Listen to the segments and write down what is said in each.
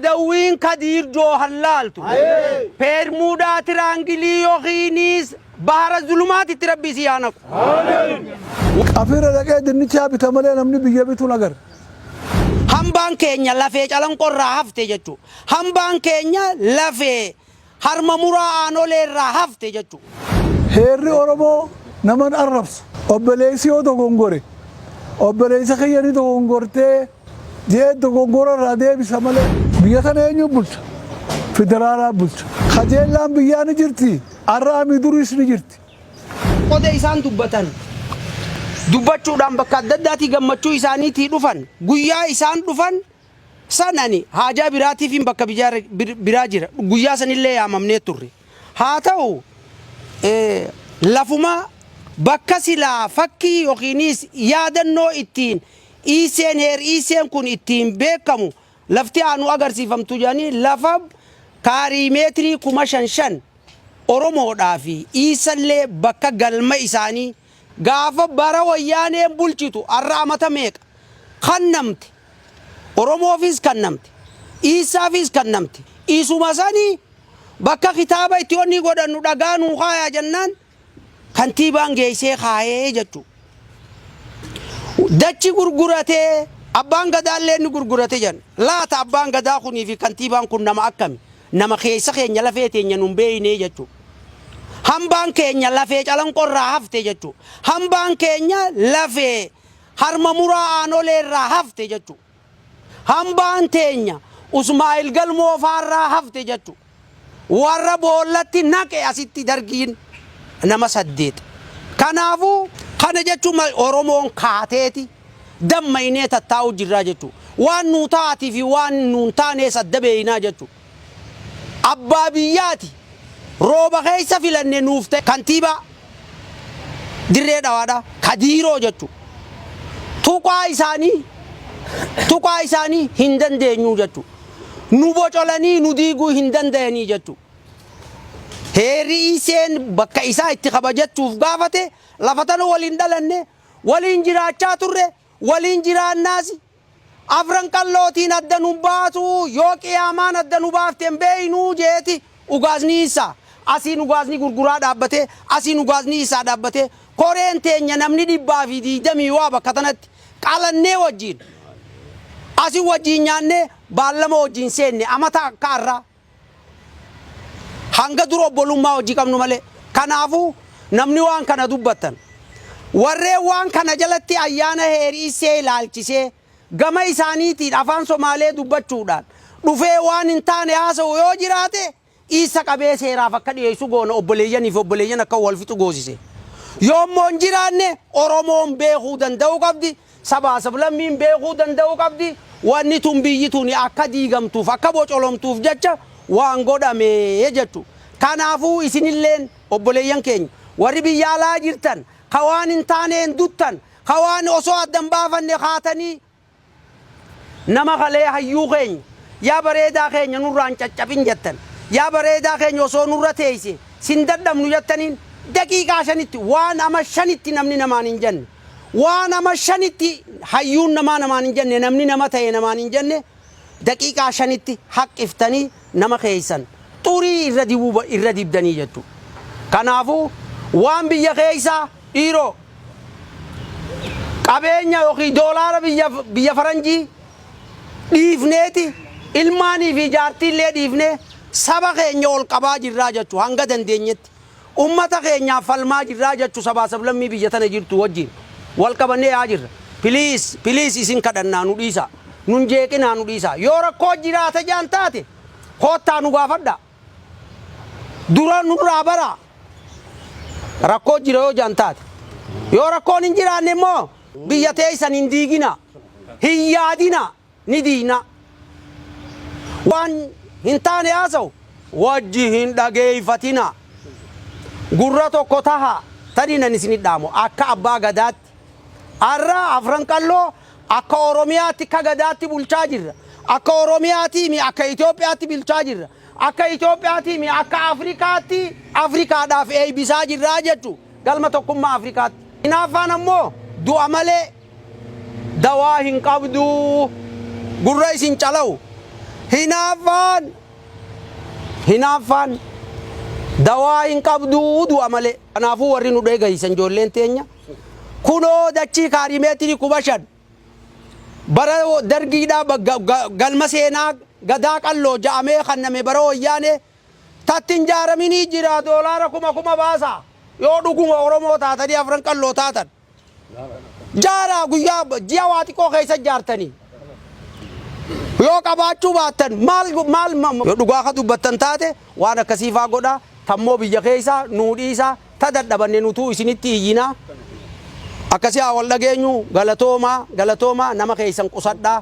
Adawwiin Kadiir Joohar laaltu, Peermuudaa Tiraangilii yokiinis Bahara Zulumaatitti Rabbi isii haa naqu. Afiira dhaqee dinnichaa bita malee namni biyya bitu hin agarre. Hambaan keenya lafee calanqoo irraa hafte jechuun hambaan keenya lafee Harma muraa aanolee irraa hafte jechuu. Heerri Oromoo nama hin arrabsu. Obboleessi yoo dogongore, Obboleessa kiyya ni dogongortee? jedhee dogongora irraa deebisa malee. Biyya tana eenyuun bulcha? Federaalaan bulcha. Kajeellaan biyyaa ni jirti. Ar'aa mii duriis ni jirti. Qoda isaan dubbatan dubbachuudhaan bakka adda addaatii gammachuu isaaniitii dhufan, guyyaa isaan dhufan San ani haajaa biraatiifiin bakka biraa jira. Guyyaa sanillee yaamamnee turre. Haa ta'u, lafuma bakka silaa fakkii yookiinis yaadannoo ittiin Iiseen, Heer Iiseen kun ittiin beekamu lafti haa nu agarsiifamtu jedhanii lafa kaarii meetirii kuma shan shan Oromoodhaa fi Iisallee bakka galma isaanii Gaafa bara wayyaaneen bulchitu arra amata meeqa kannamte Oromoofiis kannamte dhiissaafiis kannamte isuma sani bakka kitaaba itti onnii godhannu dhagaa nuu kaayaa jennaan kantiibaan geessee kaayee jechuu dachi gurguratee abbaan gadaallee inni gurgurate jenna laata abbaan gadaa kunii fi kantiibaan kun nama akkami Nama keessa keenya lafee teenya nun beeynee jechuu. Hambaan keenya lafee calanqoo irraa hafte jechuu. Hambaan keenya lafee harma muraa aanolee irraa hafte jechuu. Hambaan teenya Usmaa'il Galmoo faa irraa hafte jechuu. Warra boollatti naqe asitti dargiin nama saddeet. Kanaafuu kana jechuun Oromoon kaateeti. damma'inee tattaa'uu jirraa jechuu. Waan nuu ta'aatii fi waan nuu hin taanees adda beeynaa jechuu. Abbaa biyyaati rooba keessa filanne nuuf ta'e kantiibaa Dirree Dhawaadha Kadiiroo jechuu. Tuqaa isaanii tuqaa isaanii hin dandeenyuu jechuu. Nu bocolanii nu diiguu hin dandayanii jechuu. Heerri ECN bakka isaa itti kabajachuuf gaafate lafa tana waliin dhalanne Waliin jiraachaa turre, waliin jiraannaas. Afran Qallootiin adda nun baatu, yoo Qiyaamaan adda nu baafte hin beeknu jeeti ugaaznii isaa. Asiin ugaazni gurguraa dhaabbate, asiin ugaaznii isaa dhaabbate. Koreen teenya namni 120 waa bakka tanatti qalannee wajjiin, asi wajjiin nyaannee baallama wajjiin seenne amata akka arraa. Hanga dura obbolummaa wajji qabnu malee. Kanaafu, namni waan kana dubbattan, warreen waan kana jalatti ayyaana Heeri Issee ilaalchisee gama isaaniitiin afaan Somaalee dubbachuudhaan dhufee waan hin taane haasa'u yoo jiraate iissa qabee seeraaf akka dhiyeessu goona obboleeyyan fi obboleeyyan akka wal fixu goosise. Yoo immoo hin jiraanne Oromoon beekuu danda'uu qabdi. Sabaa sablammiin beekuu danda'uu qabdi wanni tun biyyi tuni akka diigamtuuf akka bocolomtuuf jecha waan godhame jechu. Kanaafuu isinilleen obboleeyyan keenya warri biyya alaa jirtan ka waan hin taaneen duttan ka waan osoo adda hin baafanne kaatanii nama kalee hayyuu keenya yaa bareedaa keenya nurraa hin caccaphin jettan yaa bareedaa keenya osoo nurra teeyse sin dadhabnu jettaniin daqiiqaa shanitti waan ama shanitti namni namaan hin jenne Waa nama shanitti hayyuun namaa namaan hin jenne namni nama ta'e namaan hin jenne daqiiqaa shanitti haqqiftanii nama keessan xurii irra dibuu irra dibdanii jettu. Kanaafuu waan biyya keessaa dhiiroo qabeenya yookiin doolaara biyya biyya faranjii dhiifneeti ilmaanii fi jaartiillee dhiifnee saba keenya ol qabaa jirraa jettu hanga dandeenyetti. Ummata keenyaaf falmaa jirraa jachu sabaa sablammii biyya tana jirtuu wajjiin wal qabannee yaa'aa jirra. Please please isin kadhannaa nu dhiisaa. Nun jeeqinaa nu dhiisaa. Yoo rakkoo jiraata jaan taate koottaa nu gaafadhaa. Dura nurraa baraa. Rakkoo jira yoo jaan taate. Yoo rakkoon hin jiraanne immoo biyya teessan hin diiginaa. Hin yaadinaa. ni diigna. Waan hin taane haasawu wajji hin dhageeffatina. Gurra tokko tahaa. Taniin ani isinit dhaamu akka abbaa gadaatti. Arra Afran Qalloo akka Oromiyaatti akka gadaatti bulchaa jirra. Akka Oromiyaatii mi akka Itoophiyaatti bilchaa jirra. Akka Itoophiyaatii mi akka Afrikaatti Afrikaadhaaf eeybisaa jirraa jechu galma tokkummaa Afrikaatti. Hinaaffaan ammoo du'a malee. dawaa hin qabduu gurra isin calawu hinaaffaan hinaaffaan dawaa hin qabduu du'a malee kanaafuu warri nu dheegaysan ijoolleen teenya kunoo dachii kaarimeetirii kuma shan bara dargiidhaa bagga- ga- galma seenaa gadaa qalloo ja'amee kanname bara wayyaanee tatti hin jaaraminii jira doolaara kuma kuma baasa yoo dhuguma oromoo taatanii afran qalloo taatan Jaaraa guyyaa ji'a waa xiqqoo keessa jaartanii yoo qabaachuu baattan maal maal yoo dhugaa ka dubbattan taate waan akkasii faa godhaa tammoo biyya keessa nuu dhiisaa ta dadhabanne nutuu isinitti iyyinaa akkasii haa wal dhageenyu galatoomaa galatoomaa nama keessan qusadhaa.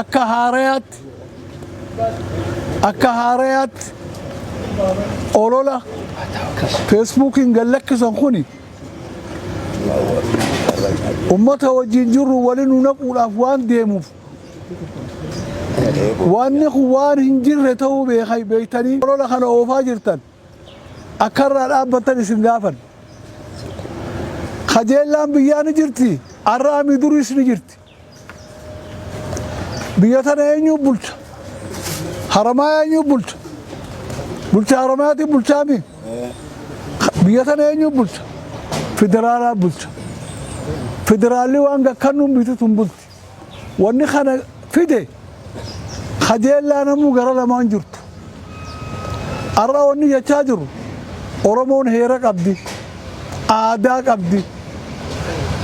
Akka haarayaatti akka haarayaatti olola feesbuukiin gad lakkisan kuni ummata wajjin jirru wali nu naquudhaaf waan deemuuf wanni kun waan hin jirre ta'uu beekai beektanii olola kana oofaa jirtan akka irraa dhaabbattan isin gaafan kajeellaan biyyaa ni jirti arraami duriis ni jirti Biyya tana eenyuu bulcha? Haramaayaa eenyuu bulcha? Bulcha Haramaayaati bulchaa mi? Biyya tana eenyuu bulcha? Federaalaa bulcha. Federaalli waan gakkannuun biitu tun bulti. Wanni kana fide kajeellaa namuu gara lamaan jirtu. Har'a wanni jechaa jirru Oromoon heera qabdi, aadaa qabdi.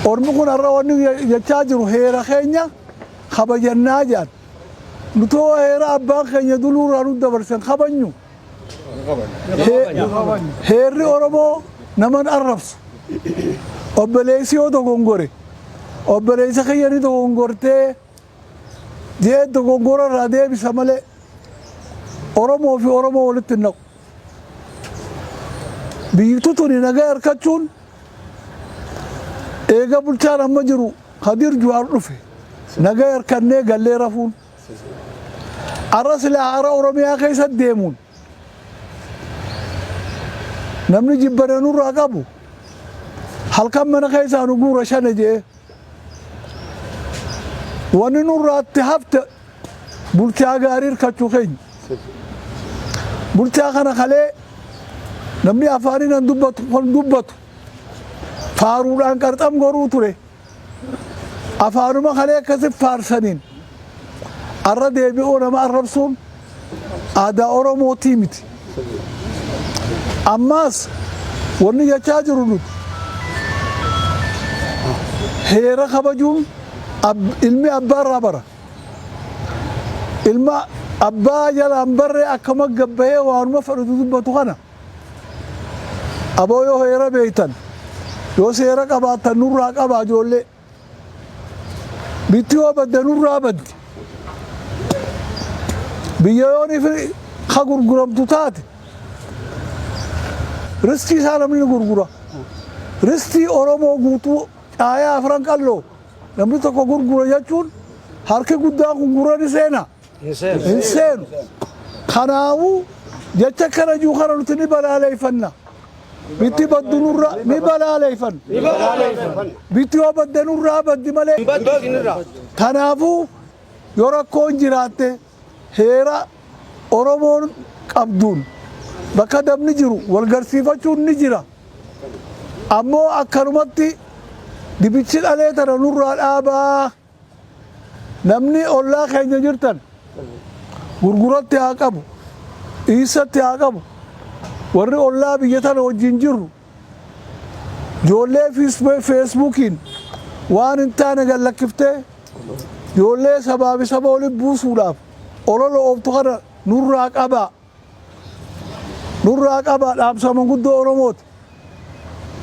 Ormi kun har'a wanni jechaa jiru heera keenya kabajannaa jedhan. Nuti hoo heera abbaan keenya duluurraa nu dabarsen kabajnu? Heerri Oromoo naman arrabsu. Obboleessi yoo dogongore, obboleessa kiyya ni dogongortee Jee dogoggora irraa deebisa malee Oromoo fi Oromoo walitti hin naqu. Biyyittu tuni nagaa arkachuun eega bulchaan amma jiru Kadir Juhaar dhufe nagaa arkannee gallee rafuun arra silaa hara Oromiyaa keessa deemuun namni jibbana nurraa qabu halkan mana keessaa nu guura shane jee Wanni nurraatti hafte bulchaa gaarii hirkachuu keenya. Bulchaa kana kalee namni afaaniin an dubbatu kan dubbatu faaruudhaan qarxam goruu ture. Afaanuma kalee akkasi faarsaniin arra deebi'oo nama arrabsuun Aadaa Oromootii miti. Ammaas wanni jechaa jiru nuti heera kabajuun ilmi abbaarraa bara. Ilma abbaa jalaan barree akka maggabbahee waanuma fedhutu dubbatu kana aboo yoo heera beektan yoo seera qabaattan nurraa qabaa ijoollee. Bitti yoo badde nurraa baddi. Biyya yoon ifi ka gurguramtu taate ristii isaa namni ni gurgura. Ristii Oromoo guutuu caayaa afran qalloo namni tokko gurgura jechuun harki guddaan kun gurra ni seena. hin seenu. Kanaafuu jecha kana jiru kana nuti ni balaaleeffanna. Bitti baddu nurra ni balaaleeffanna. Bitti yoo badde nurraa baddi malee. Kanaafuu yoo rakkoon jiraatte heera Oromoon qabduun bakka dabni jiru wal garsiifachuun ni jira. Ammoo akkanumatti dibichi dhalee tana nurraa dhaabaa. Namni ollaa keenya jirtan gurguratti haa qabu, dhiissatti haa qabu. Warri ollaa biyya tana wajjin jirru ijoollee feesbuukiin waan hin taane gad lakkiftee ijoollee sabaa fi saba oli buusuudhaaf olola ooftu kana nurraa qabaa. Nurraa qabaa dhaamsa manguddoo Oromooti.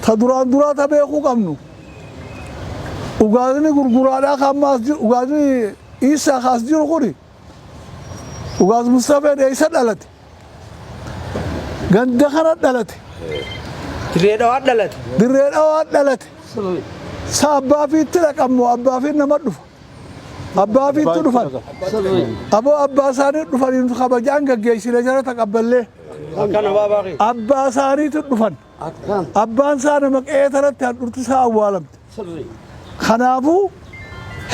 Ta duraan duraa ta beekuu qabnu Ugaazini gurguraadhaa ka amma as jiru Ugaazini Iissaa ka as jiru kuni Ugaaz Mustafeen eessa dhalate? Ganda kana dhalate. Dirree dhawaa dhalate. Dirree dhawaa dhalate. Sa abbaa fiitti dhaqan moo abbaa fiin nama dhufa? Abbaa fiittu dhufan. Aboo abbaa isaanii dhufaniin kabajaan gaggeessine jara taqabballee. Abbaa isaaniitu dhufan. Abbaan isaa nama qe'ee taratti handhurti isaa awwaalamte. Kanaafuu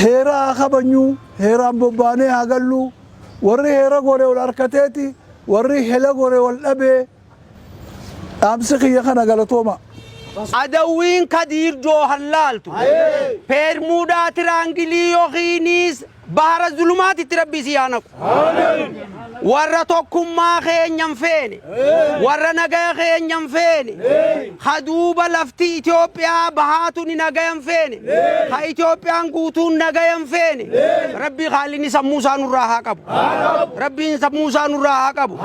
heera haa kabanyuu, heeraan bobbaanee haa galluu, warri heera gore wal harkateeti, warri hela gore wal dhabee. Dhaamsi kiyya kana galatoomaa. Adawwiin Kadiir Joohar laaltu Peermuudaa Tiraangilii yookiinis Bahara Zulumaatitti Rabbi isii haa naqu. Warra tokkummaa keenya hin feene, warra nagaya keenya hin feene, Ha duuba lafti Itoophiyaa bahaa tuni nagaya hin feene. Ha Itoophiyaan guutuun nagaya hin feene. Rabbii Khaalinni sammuu isaa nurraa haa qabu. Rabbiin sammuu isaa nurraa haa qabu.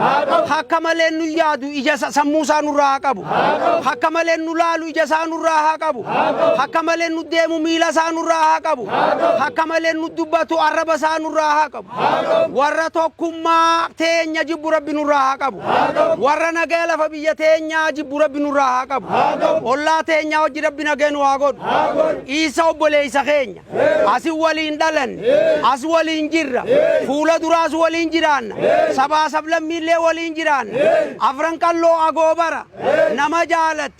Hakka malee nu yaadu ija isa- sammuu isaa nurraa haa qabu. Hakka malee nu laalu ija isaa nurraa haa qabu. Hakka malee nu deemu miila isaa nurraa haa qabu. Hakka malee nu dubbatu arraba isaa nurraa haa qabu. warra tokkummaa teenya jibbu rabbi nurraa haa qabu warra nagaya lafa biyya teenyaa jibbu rabbi nurraa haa qabu ollaa teenyaa hojji rabbi nagaya nu haa godhu dhiisa obboleeysa keenya asi waliin dhalanne as waliin jirra fuula duraas waliin jiraanna sabaa sablammiillee waliin jiraanna afran qalloo agoobara nama jaalatti